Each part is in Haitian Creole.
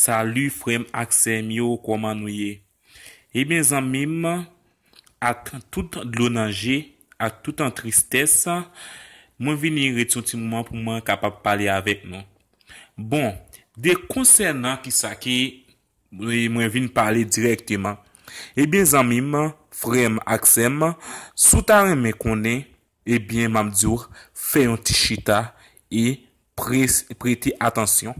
Salut frèm ak sèm yo kòman nou ye? Ebyen zanmim ak tout dlo nan je ak tout an tristès mwen vini ret yon ti moman pou mwen kapab pale avèk nou bon de konsènan kisa ke mwen vin pale dirèkteman ebyen zanmim frèm ak sèm sou ta renmen konnen Ebyen map diw fè yon ti chita e prete atansyon.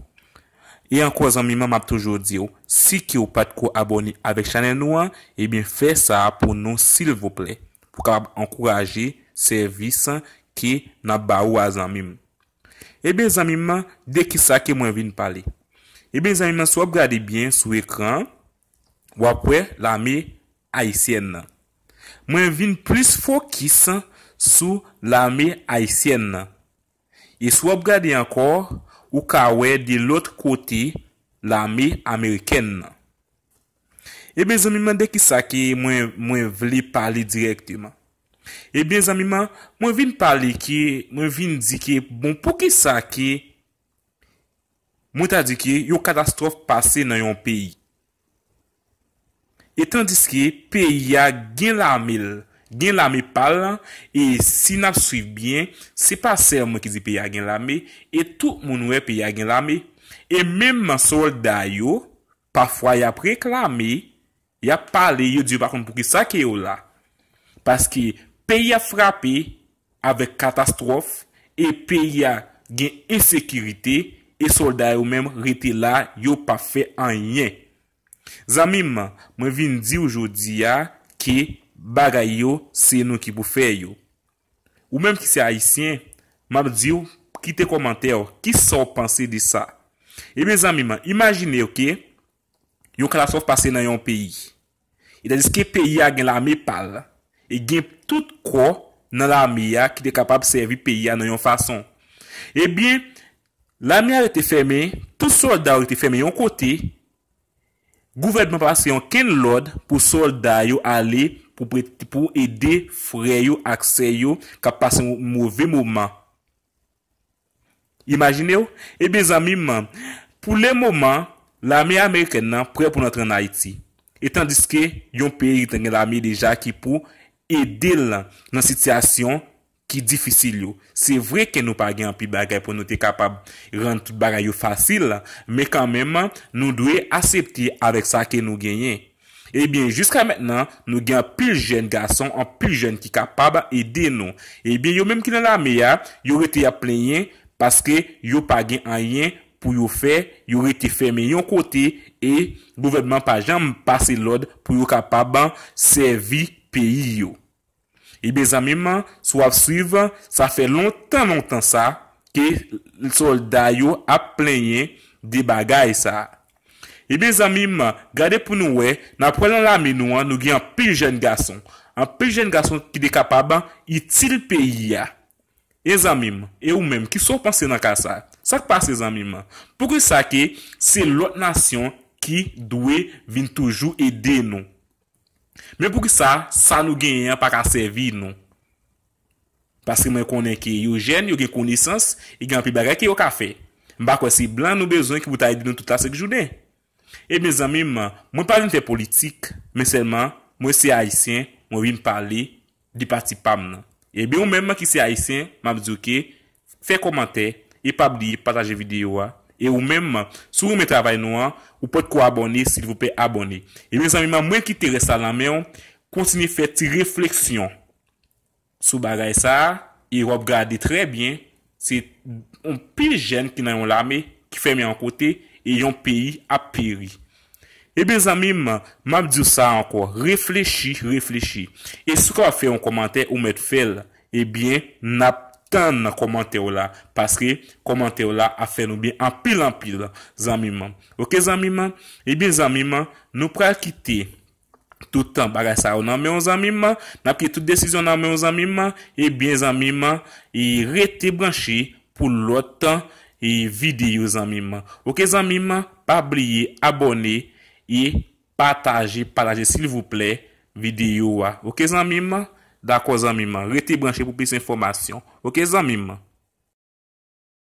E ankò zanmim an map toujou diw si kew pat ko abòne avèk chanèl nou an ebyen fè sa pou nou silvouplè pou kapab ankouraje sèvis ke nap ba ou a zanmim. Ebyen zanmim an de kisa ke mwen vin pale. Ebyen zanmim an si wap gade byen sou ekran an wap wè lame Ayisyèn nan. Mwen vin plis fokis sou lame ayisyèn nan. E si w ap gade ankò, ou ka wè de lòt kote lame amerikèn nan. Ebyen zanmim an de kisa ke mwen mwen vle pale dirèkteman? Ebyen zanmim an, mwen vin pale ke mwen vin di ke bon poukisa ke mwen ta di ke yon katastwòf pase nan yon peyi. E tandiske peyi a gen lame l, gen lame pa l, e si n ap swiv byen, se pa sèlman ki di peyi a gen lame, e tout moun wè peyi a gen lame. E menm sòlda yo, pafwa y ap reklame, y ap pale, yo di yo pa konn poukisa ke yo la. Paske peyi ap frape, avèk katastwòf e peyi a gen ensekirite e sòlda yo menm rete la yo pa fè anyen. Zanmi m, mwen vin di w jodi a ke bagay yo se nou ki pou fè yo. Ou menm ki se Ayisyen, m ap di w kite kòmantè w, kisa w panse de sa? Ebyen zanmi m, imajine w ke. Yon katastwòf pase nan yon peyi. E tandiske peyi a gen lame pa l e gen tout kò nan lame a ki te kapab sèvi peyi a nan yon fason. Ebyen, lame a rete fèmen, tout sòlda yo rete fèmen yon kote, gouvènman pa pase onkenn lòd pou sòlda yo ale pou ede frè yo ak sè yo k ap pase yon move moman. Imajine w, ebyen zanmi m, pou le moman, lame amerikèn nan prè pou l antre ann Ayiti. E tandiske yon peyi ki te gen lame deja ki pou ede l nan sitiyasyon ki difisil yo. Se vre ke nou pa gen anpil bagay pou nou te kapab rann tout bagay yo fasil, men kanmenm nou dwe asepte avèk sa ke nou genyen. Ebyen jiska mentnan nou gen anpil jèn gason anpil jèn ki kapab ede nou ebyen yo menm ki nan lame a yo rete yap plenyen paske yo pa gen anyen pou yo fè yo rete fèmen yon kote e gouvènman pa janm pase lòd pou yo kapab sèvi peyi yo. Ebyen zanmim si wap swiv sa fè lontan lontan sa ke solda yo ap plenyen de bagay sa. Ebyen zanmim gade pou nou wè nan pwal nan lame nou an nou gen anpil jèn gason anpil jèn gason ki te kapab itil peyi a e zanmim e ou menm kisa ou panse nan ka sa sak pase zanmim poukisa ke se lòt nasyon ki dwe vin toujou ede nou. Men poukisa sa nou genyen an pa ka sèvi nou? Paske mwen konnen ke yo jèn, yo gen konesans, e gen anpil bagay ke yo ka fè. M pa kwè se blan nou bezwen ki pou ta ede nou tout la sèk jounen. Ebyen zanmi m, mwen pa vin fè politik, men sèlman mwen se Ayisyen, mwen vin pale de pati pam nan. Ebyen ou menm ki se ayisyen map diw ke fè kòmantè e pa bliye pataje video a e ou menm si w renmen travay nou an ou potko abòne silvouplè abòne ebyen zanmim an mwen kite rès la nan menw kontinye fè ti refleksyon sou bagay sa e wap gade trè byen Se yon pil jèn ki nan yon lame ki fèmen yon kote e yon peyi ap peri. Ebyen zanmi m, m ap di w sa ankò, reflechi, reflechi. E si w kapab fè yon kòmantè, ou mèt fè l. Ebyen, n ap tann kòmantè w la, paske kòmantè w la ap fè nou byen anpil anpil zanmi m. Ok zanmi m? Ebyen zanmi m, nou pral kite. tout tan bagay sa yo nan menw zanmim man nap kite tout desizyon nan menw zanmim man ebyen zanmim man rete branche pou lòt video zanmim man ok zanmim man pa bliye abòne e pataje pataje silvouplè video a ok zanmim man dakò zanmim man rete branche pou plis enfòmasyon ok zanmim man.